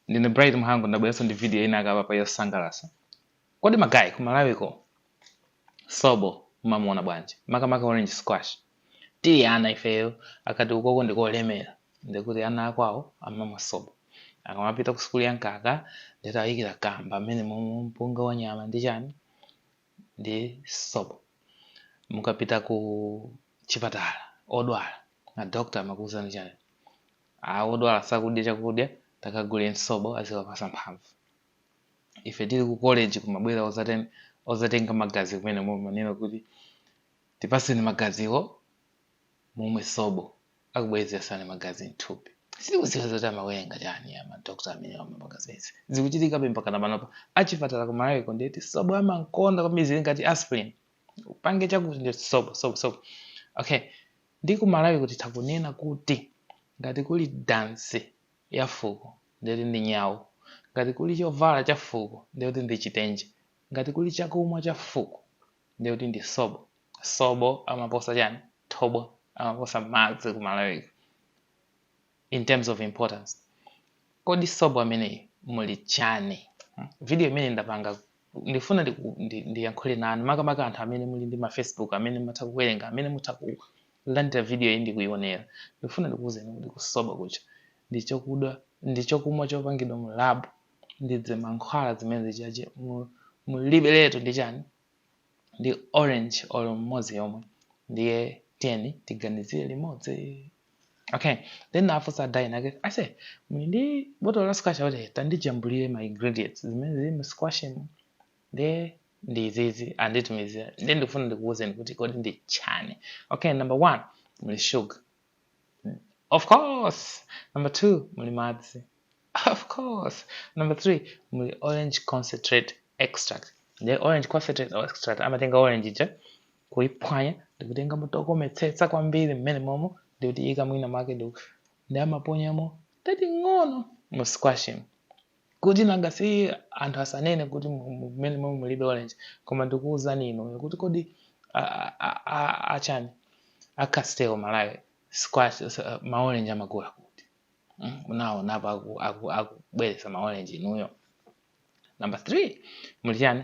ndine bright mhango ndabweranso ndi video ina kapa yosangalatsa kodi magayi ku malawiko sobo mumamuona bwanji makamaka orange squash tili ana ifeyo akati uko ndikolemera ndikuti ana akwawo amamwa sobo akamapita ku sukulu ya mkaka nde ati ayikira kamba amene momwe mpunga wa nyama ndi chani ndi sobo. Mukapita ku chipatala odwala, a doctor amakuuzani chani? A, odwala sakudya chakudya, takaguleni sobo aziwapasa mphamvu. Ife tili ku college kumabwera ozaten ozatenga magazi kumenemo amanena kuti tipaseni magaziwo mumwe sobo akubwezeretsani magazi mthupi sitikudziwa zoti amawerenga chani a madokta amene amapanga zimenezi zikuchitikabe mpakana panopa achipatala ku malawiko ndiye kuti sobo amankonda kwambiri zili ngati aspirin upange chakuti ndi sobo sobo sobo okay ndi ku malawiko titakunena kuti ngati kuli dansi ya fuko ndiye kuti ndi nyawu ngati kuli chovala cha fuko ndiye kuti ndi chitenje ngati kuli chakumwa cha fuko ndiye kuti ndi sobo sobo amaposa chani thobwa amaposa madzi ku malawiko in terms of importance kodi sobo ameneyi muli chani Hmm? video imene ndapanga ndifuna ndiku- ndi- ndiyankhule nanu makamaka anthu amene muli ndi ma facebook amene mutha kuwerenga amene mutha kulandira video iyi ndikuyionera ndifuna ndikuwuzeni kuti kuti sobo uja ndi chokudwa ndi chokumwa chopangidwa mu lab ndi ze mankhwala zimene zija mulibiretu ndi chani ndi orange or mmodzi yomwe ndiye tiyeni tiganizire limodzi okay ndinafunsa guy wina wake ase ali ndi botolo la squash kuti tandijambulire ma ingredients zimene zili mu squash mo ndiye ndi izizi anditumizira ndiye ndikufuna ndikuwuzeni kuti kodi ndi chani okay number one muli sugar of course number two muli madzi of course number three muli orange concentrate extract nde orange concentrate extract amatenga orange ija kuiphwanya ndikutenga moto kometsetsa kwambiri mmenemomo ndikutiika mwina mwake ndi amaponyamo tating'ono mu squash kuti nanga si anthu asanene kuti mmenemo mulibe orange koma ndikuwuzani inuyo kuti kodi achani a castel malawi squash ma orange amagula kuti hmm? unaonapo akubweretsa ma orange inuyo number three muli chani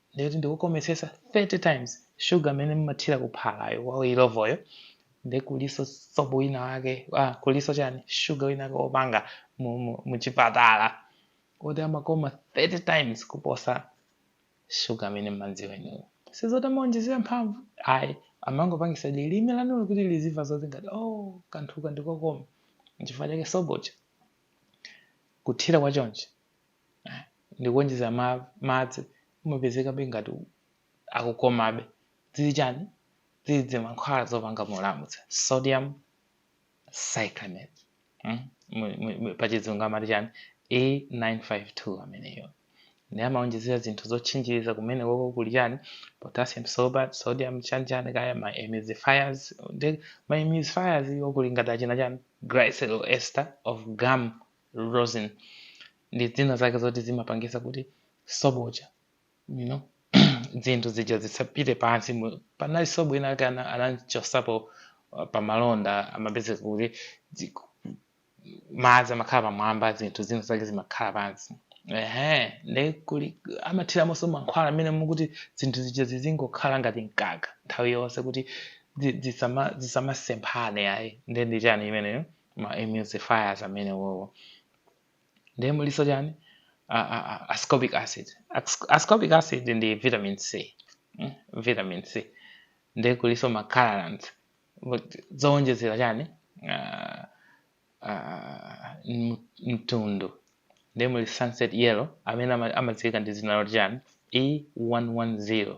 ndikuti ndikukometsetsa 30 times sugar amene mmathira kuphalayo wa ilovoyo nde kuliso sobo wina wake ah, kuliso chani sugar wina wake wopanga muchipatala kuti amakoma 30 times kuposa sugar amene mmanziwa inuyo sizoti amaonjezera mphamvu ayi amangopangisa lilime lanulo kuti lizimva zoti ngati oh kanthuka ndikokoma nchifukwa chake sobo uja kuthira kwa chonchi ndikuonjezera ma, madzi umapezekabe ngati u- akukomabe zili chani zili dzimankhwala zopanga molamutsa sodium cyclamate mm? Mu- mu- mu- pachizungu amati chani a952 ameneyo nde amaonjezera zinthu zotchinjiriza kumene koko kuli chani potassium sorbate sodium chani chani kaya ma emulsifiers ndi ma emulsifiers wo kuli ngati achina chani glycerol ester of gum rosin ndi zina zake zoti zimapangisa kuti sobo uja you know dzinthu zija zisapite pansi mu- panali sobo ina ake ana- anamchosapo uh, pamalonda amapezeka kuti dzi- madzi amakhala pamwamba zinthu zina zake zimakhala pansi ehe nde kuli amathiramonso mankhwala amenewo kuti zinthu zija zizingokhala ngati mkaka nthawi yonse kuti zi- zisama- zisamasemphane ayi nde ndi chani imeneyo ma emulsifiers amene wowo ndiye muliso chani a, a, a, ascorbic acid As- ascorbic acid ndi vitamin c mm? vitamin c ndiye kuliso ma colorants zowonjezera chani uh, uh, mtundu ndiye muli sunset yellow amene ama- amadziwika ndi dzina loti chani e110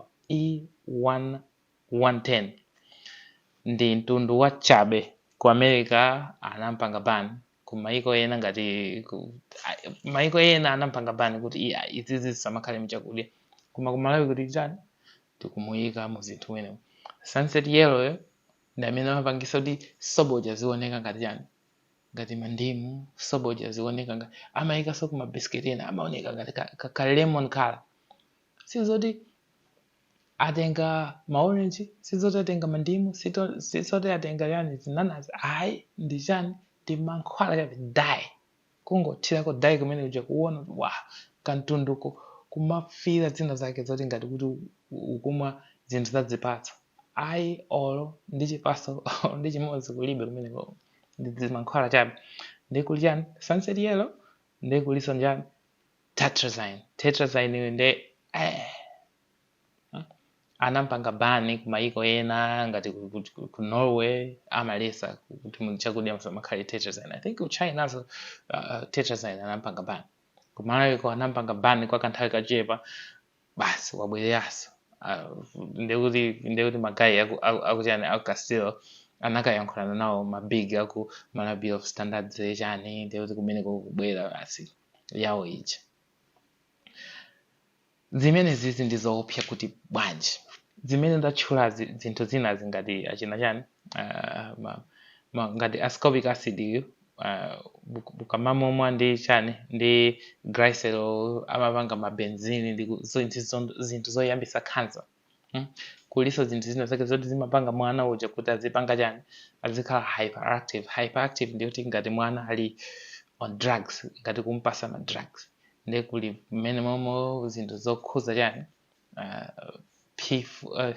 110 ndi mtundu wachabe ku america anampanga ban ku maiko ena ngati ku, a- maiko ena anampanga ban kuti i- a- izizi zisamakhale mchakudya koma ku malawi kuno chani tikumuyika mu zinthu mwenemo sunset yellow yo ndi amene amapangisa kuti sobo uja azioneka ngati chani ngati mandimu sobo uja azioneka ngati amayikanso ku mabisiketi ena amaoneka ngati ka, ka, ka lemon color sizoti atenga maorenji sizoti atenga mandimu sito- sizoti atenga chani zinanazi ayi ndi chani ndi mankhwala chabe dye kungothirako dye kumene uja kuona kuti wa kamtunduko kumafira zina zake zoti ngati kuti u- u- ukumwa zinthu zazipatso ayi olo ndi chipatso olo ndi chimodzi kulibe kumeneko ndi mankhwala chabe nde kuli chani sunset yellow nde kuliso chani Tetrazine, tetrazine uyu nde eh, hmm? anampanga ban ku mayiko ena ngati ku, ku, ku- ku Norway amalesa kuti mu chakudya musamakhale tetrazine. I think ku Chinaso uh, tetrazine anampanga ban. Ku Malawi kuno anampanga ban kwa kanthawi kachepa basi wabwereranso. Uh, ndekuti ndekuti magayi aku- aku- akuchani aku Castel anakayankhulana nawo mabig aku Malawi Bureau of Standards chani ndekuti kumeneko kubwera basi. yawo ija zimenezizi ndi zoopsa kuti bwanji zimene ndatchulazi zinthu zinazi ngati achina chani ah, ma- ma- ngati ascorbic acid yu ah, muk- mukamamumwa ndi chani ndi glycerol amapanga mabenzini ndi ku- zo- ndi zo- zinthu zoyambisa cancer Hmm? kuliso zinthu zina zake zoti zimapanga mwana uja kuti azipanga chani azikhala hyperactive hyperactive ndikuti ngati mwana ali on drugs ngati kumpasa ma drugs ndiye kuli mmenemomo zinthu zokhuza chani uh, pif uh,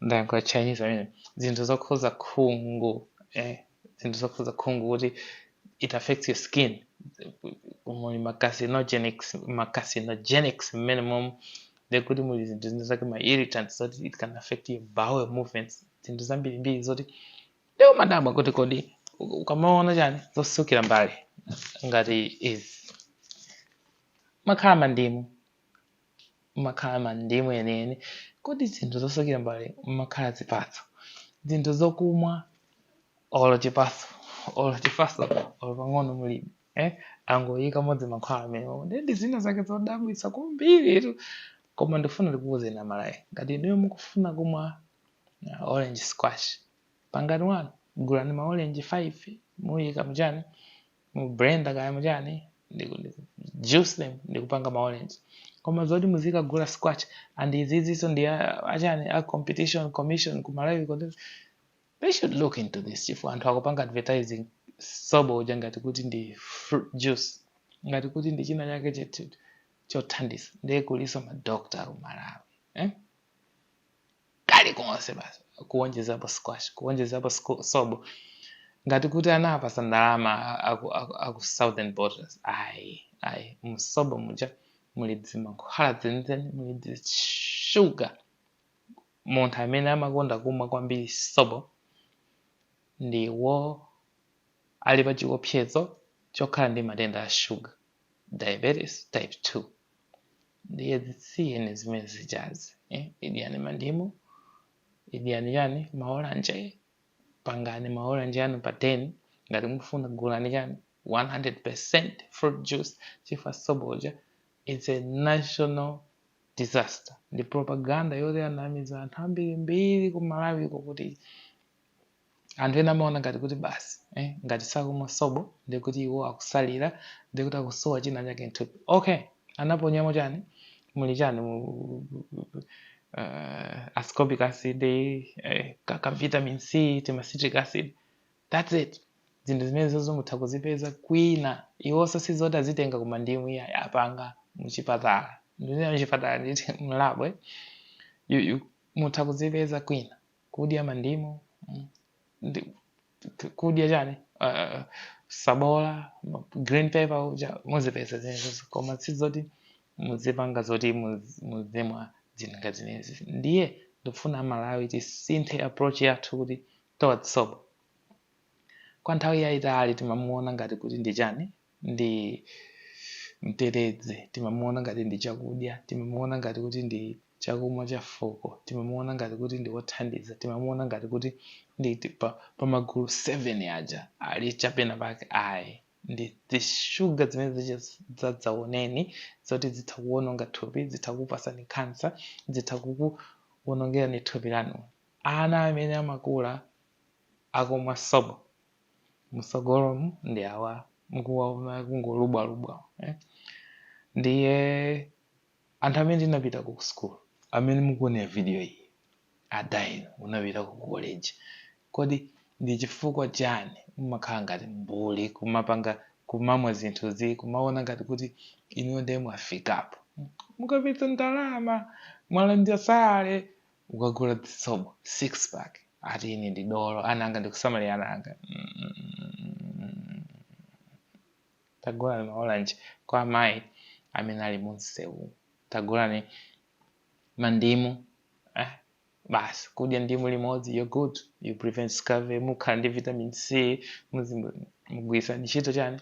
ndayankhula chinese amene zinthu zokhuza khungu eh, zinthu zokhuza khungu kuti it affects your skin muli ma carcinogenics ma carcinogenics mmenemomo ndekuti muli zinthu zina zake ma irritants zoti it can affect your bowel movements zinthu zambirimbiri zoti leo madabwa kuti kodi ukamaona chani zosukira mbale ngati izi mumakhala mandimu mumakhala mandimu enieni, kodi zinthu zosukira mbale mumakhala zipatso, zinthu zokumwa olo chipaso olo chipaso olo pang'ono mulibe eh? angoyikamo dzimankhwala mmenemo ndiye ndi zina zake zodabwitsa kwambiritu koma ndikufuna ndikuwuzeni amalawi ngati inuyo mukufuna kumwa uh, orange squash pangani wanu gulani ma orange 5 muyike mchani mu blender kaya muchani ndiku- ndiku- juice them ndikupanga ma orange koma zoti muzikagula squash and iziziso ndi a- achani a competition commission ku malawi kuti they should look into this chifu anthu akupanga advertising sobo uja ngati kuti ndi fruit juice ngati kuti ndi china chake chothandiza ndiye kuliso madokta ku malawi eh? kalikonse basi kuonjezapo squash kuonjezapo sco- sobo ngati kuti anawapasa ndalama aku, aku, aku southern bottlers ayi ayi musobo muja muli dzimankhwala dzenizeni muli dzishuga munthu amene amakonda kumwa kwambiri sobo ndiyo ali pa chiopsezo chokhala ndi matenda a shuga diabetes type 2 ndiye zisiyeni zimene zijazo eh? idyani mandimu idyani chani maolanje pangani maolanje anu pa den ngati mufuna gulani chani 100% fruit juice chifukwa sobo uja it's a national disaster ndi propaganda yoti anamiza anthu ambirimbiri ku malawiko kuti anthu ena amaona ngati kuti basi eh, ngati sakumwa sobo ndiye kuti iwo akusalira ndiye kuti akusowa china chake mthupi okay anaponyamo chani muli chani mu uh, ascorbic acid eh, ka, ka vitamin c tima citric acid that's it zinthu zimene zozo mutha kuzipeza kwina iwonso sizoti azitenga ku mandimu iyayi apanga muchipatala ndinena muchipatala nditi mu lab you, you, mutha kuzipeza kwina kudya mandimu mm, ndi- t- kudya chani uh, sabola ma- green pepper uja muzipeza zimenezi koma sizoti muzipanga zoti muz- muzimwa zinthu ngati zimenezi ndiye ndikufuna amalawi tisinthe approach yathu kuti towards sobo kwa nthawi yayitali timamuona ngati kuti ndi chani ndi mtetezi, timamuona ngati ndi chakudya, timamuona ngati kuti ndi chakumwa cha fuko, timamuona ngati kuti ndi wothandiza, timamuona ngati kuti ndi pa, pa magulu 7 aja ali chapena pake ayi ndi zishuga zimene zicha zadzaoneni zoti zitha kuwononga thupi zitha kupasani khansa zitha kukuwonongerani thupi lanu ana amene amakula akumwa sobo msogolomu ndi awa mukuwaona akungolubwalubwa eh? ndiye anthu amene tinapita ku school amene mukuonera video iyi a dayi munapita ku college kodi ndi chifukwa chani mumakhala ngati mbuli kumapanga kumamwa zinthuzi kumaona ngati kuti inuyo ndiye mwafikapo mukapeza ndalama mwalandira salary mukagula zisobo six pack ati ine ndi dolo ana anga ndikusamalira ana anga Mm. tagulani maolanji kwa amayi amene ali munsewu tagulani mandimu eh, basi kudya ndimu limodzi you're good you prevent scurvy mukhala ndi vitamin c muzi- mugwiritsa ntchito chani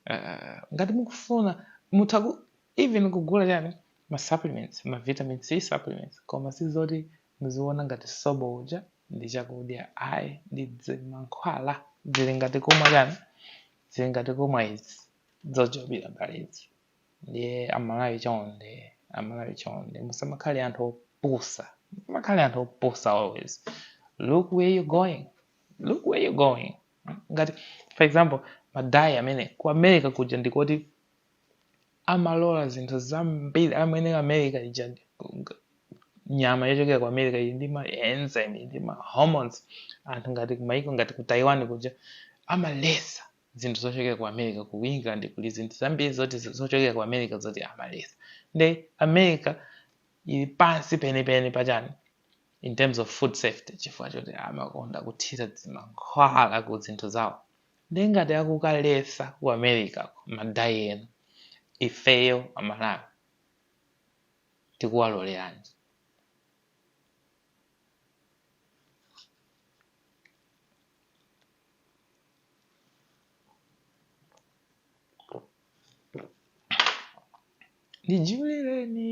Eh, ngati mukufuna mutha ku- even kugula chani ma supplements ma vitamin c supplements koma sizoti muziona ngati sobo uja ndi chakudya ayi ndi dzi- mankhwala zili ngati kumwa chani zili ngati kumwa izi zojobira mbalezi ndiye amalawi chonde amalawi chonde musamakhale anthu opusa musamakhale anthu opusa always look where you going look where you going ngati for example madayi amene ku america kuja ndikoti amalola zinthu zambiri amwene america ija ndi- g- nyama yochokera ku america ili ndi ma enzyme ndi ma hormones anthu ngati kumaiko ngati ku taiwan kuja amalesa zinthu zochokera ku america ku england kuli zinthu zambiri zoti zo- zochokera ku america zoti amalesa nde america ili pansi penipeni pachani in terms of food safety chifukwa choti amakonda kuthira zimankhwala ku zinthu zawo nde ngati akukaletsa ku America ko ma dye ena ifeyo a Malawi tikuwaloleranji? Ndijulireni.